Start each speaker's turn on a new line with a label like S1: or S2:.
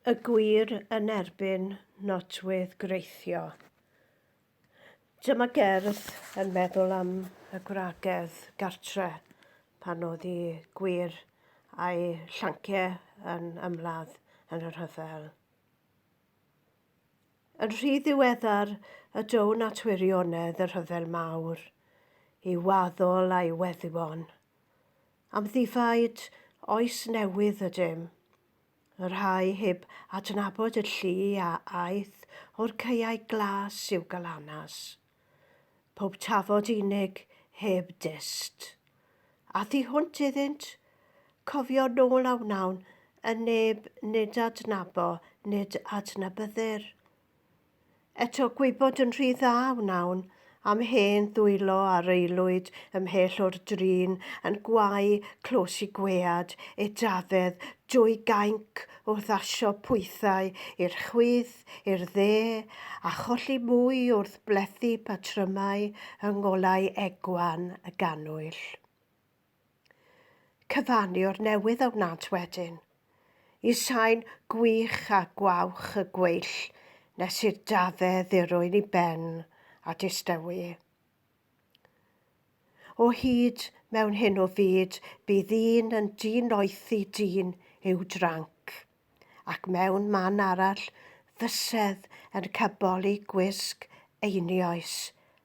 S1: y gwir yn erbyn nodwydd greithio. Dyma gerdd yn meddwl am y gwragedd gartre pan oedd i gwir a'i llanciau yn ymladd yn y rhyfel. Yn rhy ddiweddar y down at wirionedd y rhyfel mawr i waddol a'i weddwon Am ddifaid oes newydd ydym, y rhai heb adnabod y llu a aeth o'r caeau glas i'w galanas. Pob tafod unig heb dyst. A thu hwnt iddynt, cofio nôl a wnawn yn neb nid adnabo nid adnabyddir. Eto gwybod yn rhy dda wnawn am hen ddwylo a reilwyd ymhell o'r drin yn gwau clos i gwead e dafedd drwy gainc wrth asio pwythau i'r chwith, i'r dde, a cholli mwy wrth blethu patrymau yng ngolau egwan y gannwyll. Cyfaniwr newydd a wnânt wedyn, i sain gwych a gwawch y gweill nes i'r dafe ddirwyn i ben a distewi. O hyd mewn hyn o fyd bydd un yn di-noethi dyn i'w dranc, ac mewn man arall fysedd yn cyboli gwisg einioes